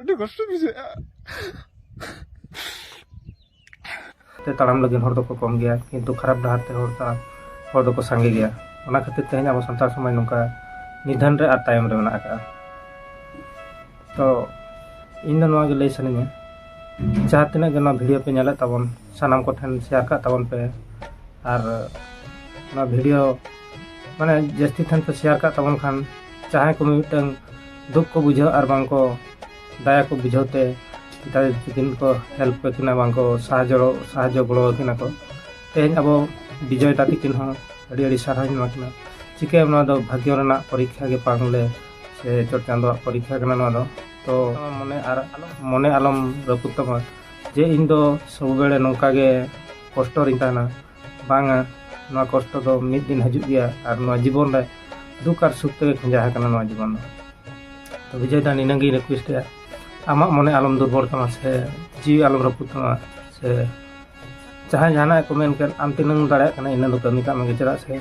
ᱟᱹᱰᱤ ᱠᱚᱥᱴᱚ ᱵᱩᱡᱷᱟᱹᱜᱼᱟ ᱛᱮ ᱛᱟᱲᱟᱢ ᱞᱟᱹᱜᱤᱫ ᱦᱚᱲ ᱫᱚᱠᱚ ᱠᱚᱢ ᱜᱮᱭᱟ ᱠᱤᱱᱛᱩ ᱠᱷᱟᱨᱟᱯ ᱰᱟᱦᱟᱨ ᱛᱮ ᱦᱚᱲ ᱛᱟᱲᱟᱢ ᱦᱚᱲ ᱫᱚᱠᱚ ᱥᱟᱸᱜᱮ ᱜᱮᱭᱟ ᱚᱱᱟ ᱠᱷᱟᱹᱛᱤᱨ ᱛᱮᱦᱮᱧ ᱟᱵᱚ ᱥᱟᱱᱛᱟᱲ ᱥᱚᱢᱟᱡᱽ ᱱᱚᱝᱠᱟ ᱱᱤᱫᱷᱟᱱ ᱨᱮ ᱟᱨ ᱛᱟᱭᱚᱢ ᱨᱮ ᱢᱮᱱᱟᱜ ᱟᱠᱟᱫᱼᱟ ᱛᱚ ᱤᱧ ᱫᱚ ᱱᱚᱣᱟ ᱜᱮ ᱞᱟᱹᱭ ᱥᱟᱱᱟᱧᱟ ᱡᱟᱦᱟᱸ ᱛᱤᱱᱟᱹᱜ ᱜᱮ ᱱᱚᱣᱟ ᱵᱷᱤᱰᱤᱭᱳ ᱯᱮ ᱧᱮᱞᱮᱫ ᱛᱟᱵᱚᱱ ᱥᱟᱱᱟᱢ ᱠᱚᱴᱷᱮᱱ ᱥᱮᱭᱟᱨ ᱠᱟᱜ ᱛᱟᱵᱚᱱ ᱯᱮ ᱟᱨ ᱱᱚᱣᱟ ᱵᱷᱤᱰᱤᱭᱳ ᱢᱟᱱᱮ ᱡᱟᱹᱥᱛᱤ ᱴᱷᱮᱱ ᱯᱮ ᱥᱮᱭᱟᱨ ᱠᱟᱜ ᱛᱟᱵᱚᱱ ᱠᱷᱟᱱ ᱡᱟᱦᱟᱸᱭ ᱠᱚ ᱢᱤᱫᱴᱟᱝ ᱫᱩᱠ ᱠᱚ ᱵᱩᱡᱷᱟᱹᱣ ᱟᱨ ᱵᱟᱝ ᱠᱚ ᱫᱟᱭᱟ ᱠᱚ ᱵᱩᱡᱷᱟᱹᱣ ᱛᱮ ᱫᱟᱭᱟ ᱛᱤᱠᱤᱱ ᱠᱚ ᱦᱮᱞᱯ ᱠᱚ ᱠᱤᱱᱟ ᱵᱟᱝ ᱠᱚ ᱥᱟᱦᱟᱡᱽᱡᱚ ᱥᱟᱦᱟᱡᱽᱡᱚ ᱜᱚᱲᱚ ᱟᱹᱠᱤᱱᱟ ᱠᱚ ᱛᱮᱦᱮᱧ ᱟᱵᱚ ᱵᱤᱡᱚᱭ ᱫᱟ ᱛᱤᱠᱤᱱ ᱦᱚᱸ ᱟᱹᱰᱤ ᱟᱹᱰᱤ ᱥᱟᱨᱦᱟᱣᱤᱧ ᱮᱢᱟ ᱠᱤᱱᱟ ᱪᱤᱠᱟᱹᱭᱟᱢ ᱱᱚᱣᱟ ᱫᱚ ᱵᱷᱟᱜᱽᱜᱚ ᱨᱮᱱᱟᱜ ᱯᱚᱨᱤᱠᱠᱷᱟ ᱜᱮ ᱵᱟᱝᱞᱮ ᱥᱮ ᱪᱚᱴ ᱪᱟᱸᱫᱚᱣᱟᱜ ᱯᱚᱨᱤᱠᱷᱟ ᱠᱟᱱᱟ ᱱᱚᱣᱟ ᱫᱚ ᱛᱚ ᱢᱚᱱᱮ ᱟᱨ ᱢᱚᱱᱮ ᱟᱞᱚᱢ ᱨᱟᱹᱯᱩᱫ ᱛᱟᱢᱟ ᱡᱮ ᱤᱧ ᱫᱚ ᱥᱚᱵ ᱵᱮᱲᱮ ᱱᱚᱝᱠᱟ ᱜᱮ ᱠᱚᱥᱴᱚ ᱨᱤᱧ ᱛᱟᱦᱮᱱᱟ ᱵᱟᱝᱟ ᱱᱚᱣᱟ ᱠᱚᱥᱴᱚ ᱫᱚ ᱢᱤᱫ ᱫᱤᱱ ᱦᱤᱡᱩᱜ ᱜᱮᱭᱟ ᱟᱨ ᱱᱚᱣᱟ ᱡᱤᱵᱚᱱ ᱨᱮ ᱫᱩᱠ ᱟᱨ ᱥᱩᱠ ᱛᱮᱜᱮ ᱠᱷᱚᱸᱡᱟ ᱟᱠᱟᱱᱟ ᱱᱚᱣᱟ ᱡᱤᱵᱚᱱ ᱫᱚ ᱛᱚ ᱵᱤᱡᱚᱭ ᱫᱟ ᱱᱤᱱᱟᱹ ᱜᱮᱧ ᱨᱤᱠᱩᱭᱮᱥᱴ ᱮᱫᱟ ᱟᱢᱟᱜ ᱢᱚᱱᱮ ᱟᱞᱚᱢ ᱫᱩᱨᱵᱚᱞ ᱛᱟᱢᱟ ᱥᱮ ᱡᱤᱣᱤ ᱟᱞᱚᱢ ᱨᱟᱹᱯᱩᱫ ᱛᱟᱢᱟ ᱥᱮ ᱡᱟᱦᱟᱸᱭ ᱡᱟᱦᱟᱱᱟᱜ ᱠᱚ ᱢᱮᱱ ᱠᱮᱫ ᱟᱢ ᱛᱤᱱᱟᱹᱜ ᱮᱢ ᱫᱟᱲᱮᱭᱟᱜ ᱠᱟᱱᱟ ᱤᱱᱟᱹ ᱫᱚ ᱠᱟᱹᱢᱤ ᱠᱟᱜ ᱢᱮᱜᱮ ᱪᱮᱫᱟᱜ ᱥᱮ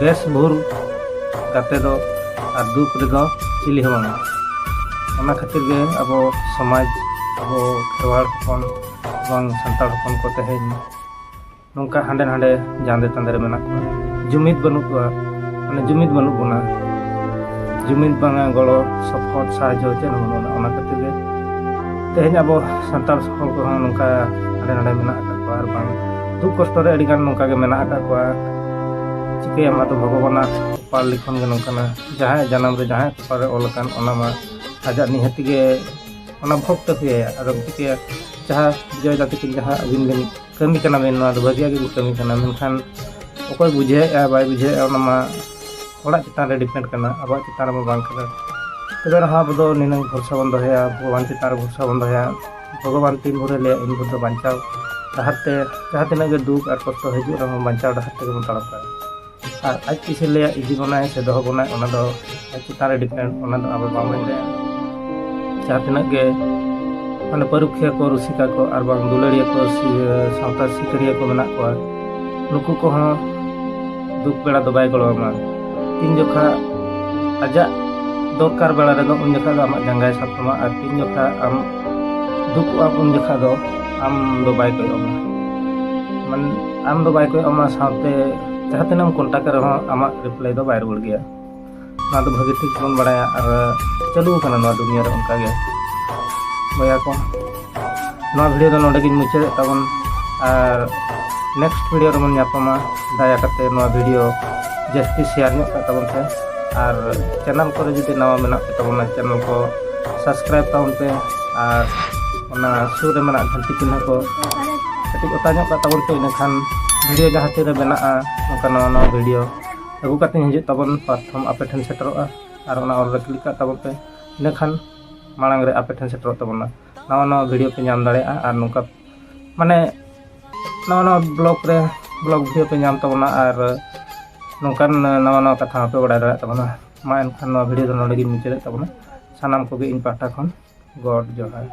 ᱵᱮᱥ ᱵᱷᱩᱞ ᱜᱟᱛᱮ ᱫᱚ ᱟᱨ ᱫᱩᱠ ᱨᱮᱫᱚ ᱪᱤᱞᱤ ᱦᱚᱸ ᱵᱟᱝᱟ ᱚᱱᱟ ᱠᱷᱟᱹᱛᱤᱨ ᱜᱮ ᱟᱵᱚ ᱥᱚᱢᱟᱡᱽ ᱟᱵᱚ ᱠᱷᱮᱨᱣᱟᱲ ᱦᱚᱯᱚᱱ ᱵᱟᱝ ᱥᱟᱱᱛᱟᱲ ᱦᱚᱯᱚᱱ ᱠᱚ ᱛᱮᱦᱮᱧ ᱱᱚᱝᱠᱟ ᱦᱟᱸᱰᱮ ᱱᱟᱸᱰᱮ ᱡᱟᱸᱫᱮ ᱛᱟᱸᱫᱮ ᱨᱮ ᱢᱮᱱᱟᱜ ᱠᱚᱣᱟ ᱡᱩᱢᱤᱫ ᱵᱟᱹᱱᱩᱜ ᱠᱚᱣᱟ ᱢᱟᱱᱮ ᱡᱩᱢᱤᱫ ᱵᱟᱹᱱᱩᱜ ᱵᱚᱱᱟ ᱡᱩᱢᱤᱫ ᱵᱟᱝᱟ ᱜᱚᱲᱚ ᱥᱚᱯᱚᱦᱚᱫ ᱥᱟᱦᱟᱡᱽᱡᱚ ᱪᱮᱫ ᱦᱚᱸ ᱵᱟᱹᱱᱩᱜᱼᱟ ᱚᱱᱟ ᱠᱷᱟᱹᱛᱤᱨ ᱜᱮ ᱛᱮᱦᱮᱧ ᱟᱵᱚ ᱥᱟᱱᱛᱟᱲ ᱦᱚᱲ ᱠᱚᱦᱚᱸ ᱱᱚᱝᱠᱟ ᱦᱟᱸᱰᱮ ᱱᱟᱸᱰᱮ ᱢᱮᱱᱟᱜ ᱟᱠᱟᱫ ᱠᱚᱣᱟ ᱟᱨ ᱵᱟᱝ ᱫᱩᱠ ᱠᱚᱥᱴᱚ ᱨᱮ ᱟᱹᱰᱤ ᱜᱟᱱ ᱱᱚᱝᱠᱟ ᱜᱮ ᱢᱮᱱᱟᱜ ᱟᱠᱟᱫ ᱠᱚᱣᱟ ᱪᱤᱠᱟᱹᱭᱟᱢ ᱟᱫᱚ ᱵᱷᱚᱜᱚᱵᱟᱱᱟᱜ ᱠᱚᱯᱟᱲ ᱞᱤᱠᱷᱚᱱ ᱜᱮ ᱱᱚᱝᱠᱟᱱᱟ ᱡᱟᱦᱟᱸᱭᱟᱜ ᱡᱟᱱᱟᱢ ᱨᱮ ᱡᱟᱦᱟᱸᱭᱟᱜ ᱠᱚᱯᱟᱲ ᱨᱮ ᱚᱞ ᱟᱠᱟᱱ ᱚᱱᱟ ᱢᱟ ᱟᱡᱟᱜ ᱱᱤᱦᱟᱹᱛ ᱜᱮ ᱚᱱᱟ ᱵᱷᱳᱜᱽ ᱛᱮ ᱦᱩᱭᱟᱭᱟ ᱟᱫᱚᱢ ᱪᱤᱠᱟᱹᱭᱟ ᱡᱟᱦᱟᱸ ᱡᱚᱭ ᱫᱟ ᱛᱤᱠᱤᱱ ᱡᱟᱦᱟᱸ ᱟᱹᱵᱤᱱ ᱵᱤᱱ ᱠᱟᱹᱢᱤ ᱠᱟᱱᱟ ᱵᱤᱱ ᱱᱚᱣᱟ ᱫᱚ ᱵᱷᱟᱹᱜᱤᱭᱟᱜ ᱜᱮᱵᱤᱱ ᱠᱟᱹᱢᱤ ᱠᱟᱱᱟ ᱢᱮᱱᱠᱷᱟᱱ ᱚᱠᱚᱭ ᱵᱩᱡᱷᱟᱹᱣᱮᱫᱼᱟ ᱵᱟᱭ ᱵᱩᱡᱷᱟᱹᱣᱮᱫᱼᱟ ᱚᱱᱟ ᱢᱟ ᱦᱚᱲᱟᱜ ᱪᱮᱛᱟᱱ ᱨᱮ ᱰᱤᱯᱮᱱᱰ ᱠᱟᱱᱟ ᱟᱵᱚᱣᱟᱜ ᱪᱮᱛᱟᱱ ᱨᱮᱢᱟ ᱵᱟᱝ ᱠᱟᱱᱟ ᱛᱚᱵᱮ ᱨᱮᱦᱚᱸ ᱟᱵᱚ ᱫᱚ ᱱᱤᱱᱟᱹᱝ ᱵᱷᱚᱨᱥᱟ ᱵᱚᱱ ᱫᱚᱦᱚᱭᱟ ᱵᱷᱚᱜᱚᱵᱟᱱ ᱪᱮᱛᱟᱱ ᱨᱮ ᱵᱷᱚᱨᱥᱟ ᱵᱚᱱ ᱫᱚᱦᱚᱭᱟ ᱵᱷᱚᱜᱚᱵᱟᱱ ᱛᱤᱱ ᱵᱷᱳᱨᱮ ᱞᱟᱹᱭᱟ ᱩᱱ ᱵᱷᱳᱨ ᱫᱚ ᱵᱟᱧᱪᱟᱣ ᱰᱟᱦᱟᱨ ᱛᱮ ᱡᱟᱦᱟᱸ ᱛᱤᱱᱟᱹᱜ ᱜᱮ ᱫᱩᱠ ᱟᱨ ᱠᱚᱥᱴᱚ ᱦᱤᱡᱩᱜ ᱨᱮᱦᱚᱸ ᱵᱟᱧᱪᱟᱣ ᱰᱟᱦᱟᱨ ᱛᱮᱜᱮ ᱵᱚᱱ ᱛᱟᱲᱟᱢ ᱫᱟᱲᱮᱭᱟᱜᱼᱟ ᱟᱨ ᱟᱡ ᱛᱤᱥᱮ ᱞᱟᱹᱭᱟ ᱤᱫᱤ ᱵᱚᱱᱟᱭ ᱥᱮ ᱫᱚᱦᱚ ᱵᱚᱱᱟᱭ ᱚᱱᱟ ᱫᱚ ᱟᱡ ᱪᱮᱛᱟᱱ ᱨᱮ ᱰᱤᱯᱮᱱᱰ ᱚᱱᱟ ᱫᱚ ᱟᱵᱚ ᱵᱟᱵᱚᱱ ᱞᱟᱹᱭᱟ ᱡᱟᱦᱟᱸ ᱛᱤᱱᱟᱹᱜ ᱜᱮ ᱢᱟᱱᱮ ᱯᱟᱹᱨᱩᱠᱷᱤᱭᱟᱹ ᱠᱚ ᱨᱩᱥᱤᱠᱟ ᱠᱚ ᱟᱨ ᱵᱟᱝ ᱫᱩᱞᱟᱹᱲᱤᱭᱟᱹ ᱠᱚ ᱥᱟᱶᱛᱟ ᱥᱤᱠᱟᱹᱨᱤᱭᱟᱹ ᱠᱚ ᱢᱮᱱᱟᱜ ᱠᱚᱣᱟ ᱱᱩᱠᱩ ᱠᱚᱦᱚᱸ ᱫᱩᱠ ᱵᱮᱲᱟ ᱫᱚ ᱵᱟᱭ ᱜᱚᱲᱚ ᱟᱢᱟ ᱛᱤᱱ ᱡᱚᱠᱷᱟ ᱟᱡᱟᱜ ᱫᱚᱨᱠᱟᱨ ᱵᱮᱲᱟ ᱨᱮᱫᱚ ᱩᱱ ᱡᱚᱠᱷᱟ ᱫᱚ ᱟᱢᱟᱜ ᱡᱟᱸᱜᱟᱭ ᱥᱟᱵ ᱛᱟᱢᱟ ᱟᱨ ᱛᱤᱱ ᱡᱚᱠᱷᱟ ᱟᱢ ᱫᱩᱠᱩᱜᱼᱟ ᱩᱱ ᱡᱚᱠᱷᱟ ᱫᱚ ᱟᱢ ᱫᱚ ᱵᱟᱭ ᱠᱚᱭᱚᱜ ᱟᱢᱟ ᱢᱟᱱᱮ ᱟᱢ ᱫᱚ ᱵᱟᱭ ᱠᱚᱭᱚᱜ ᱟᱢᱟ ᱥᱟᱶᱛᱮ ᱡᱟᱦᱟᱸ ᱛᱤᱱᱟᱹᱜ ᱮᱢ ᱠᱚᱱᱴᱟᱠᱴ ᱨᱮᱦᱚᱸ ᱟᱢᱟᱜ ᱨᱤᱯᱞᱟᱭ ᱫᱚ ᱵᱟᱭ ᱨᱩᱣᱟᱹᱲ ᱜᱮᱭᱟ ᱱᱚᱣᱟ ᱫᱚ ᱵᱷᱟᱹᱜᱤ ᱴᱷᱤᱠ ᱵᱚᱱ ᱵᱟᱲᱟᱭᱟ ᱟᱨ ᱪᱟᱹᱞᱩ ᱟᱠᱟᱱᱟ ᱱᱚᱣᱟ ᱫᱩᱱᱤᱭᱟᱹ ᱨᱮ ᱚᱱᱠᱟ ᱜᱮ ᱵᱚᱭᱦᱟ ᱠᱚ ᱱᱚᱣᱟ ᱵᱷᱤᱰᱤᱭᱳ ᱫᱚ ᱱᱚᱰᱮ ᱜᱤᱧ ᱢᱩᱪᱟᱹᱫᱮᱫ ᱛᱟᱵᱚᱱ ᱟᱨ ᱱᱮᱠᱥᱴ ᱵᱷᱤᱰᱤᱭᱳ ᱨᱮᱵᱚᱱ ᱧᱟᱯᱟᱢᱟ ᱫᱟᱭᱟ ᱠᱟᱛᱮ ᱱᱚᱣᱟ ᱵᱷᱤᱰᱤᱭᱳ ᱡᱟᱹᱥᱛᱤ ᱥᱮᱭᱟᱨ ᱧᱚᱜ ᱠᱟᱜ ᱛᱟᱵᱚᱱ ᱯᱮ ᱟᱨ ᱪᱮᱱᱮᱞ ᱠᱚᱨᱮ ᱡᱩᱫᱤ ᱱᱟᱣᱟ ᱢᱮᱱᱟᱜ ᱯᱮ ᱛᱟᱵᱚᱱᱟ ᱪᱮᱱᱮᱞ ᱠᱚ ᱥᱟᱵᱥᱠᱨᱟᱭᱤᱵ ᱛᱟᱵᱚᱱ ᱯᱮ ᱟᱨ ᱚᱱᱟ ᱥᱩᱨ ᱨᱮ ᱢᱮᱱᱟᱜ ᱜᱷᱟᱱᱴᱤ ᱪᱤᱱᱦᱟᱹ ᱠᱚ ᱠᱟᱹᱴᱤᱡ ᱚᱛᱟ ᱧᱚᱜ ᱠᱟᱜ ᱛᱟᱵᱚᱱ ᱯᱮ ᱤᱱᱟᱹᱠᱷᱟᱱ ᱵᱷᱤᱰᱤᱭᱳ ᱡᱟᱦᱟᱸ ᱛᱤᱨᱮ ᱵᱮᱱᱟᱜᱼᱟ ᱱᱚᱝᱠᱟ ᱱᱟᱣᱟ ᱱᱟᱣᱟ ᱵᱷᱤᱰᱤᱭᱳ ᱟᱹᱜᱩ ᱠᱟᱛᱮ ᱦᱤᱡᱩᱜ ᱛᱟᱵᱚᱱ ᱯᱨᱚᱛᱷᱚᱢ ᱟᱯᱮ ᱴᱷᱮᱱ ᱥᱮᱴᱮᱨᱚᱜᱼᱟ ᱟᱨ ᱚᱱᱟ ᱚᱞ ᱨᱮ ᱠᱞᱤᱠ ᱠᱟᱜ ᱛᱟᱵᱚᱱ ᱯᱮ ᱤᱱᱟᱹ ᱠᱷᱟᱱ ᱢᱟᱲᱟᱝ ᱨᱮ ᱟᱯᱮ ᱴᱷᱮᱱ ᱥᱮᱴᱮᱨᱚᱜ ᱛᱟᱵᱚᱱᱟ ᱱᱟᱣᱟ ᱱᱟᱣᱟ ᱵᱷᱤᱰᱤᱭᱳ ᱯᱮ ᱧᱟᱢ ᱫᱟᱲᱮᱭᱟᱜᱼᱟ ᱟᱨ ᱱᱚᱝᱠᱟ ᱢᱟᱱᱮ ᱱᱟᱣᱟ ᱱᱟᱣᱟ ᱵᱞᱚᱜᱽ ᱨᱮ ᱵᱞᱚᱜᱽ ᱵᱷᱤᱰᱤᱭᱳ ᱯᱮ ᱧᱟᱢ ᱛᱟᱵᱚᱱᱟ ᱟᱨ ᱱᱚᱝᱠᱟᱱ ᱱᱟᱣᱟ ᱱᱟᱣᱟ ᱠᱟᱛᱷᱟ ᱦᱚᱸᱯᱮ ᱵᱟᱲᱟᱭ ᱫᱟᱲᱮᱭᱟᱜ ᱛᱟᱵᱚᱱᱟ ᱢᱟ ᱮᱱᱠᱷᱟᱱ ᱱᱚᱣᱟ ᱵᱷᱤᱰᱤᱭᱳ ᱫᱚ ᱱᱚᱰᱮ ᱜᱤᱧ ᱢᱩᱪᱟᱹᱫᱮᱫ ᱛᱟᱵᱚᱱᱟ ᱥᱟᱱᱟᱢ ᱠᱚᱜᱮ ᱤᱧ ᱯᱟᱦᱴᱟ ᱠᱷᱚᱱ ᱜᱚᱰ ᱡᱚᱦᱟᱨ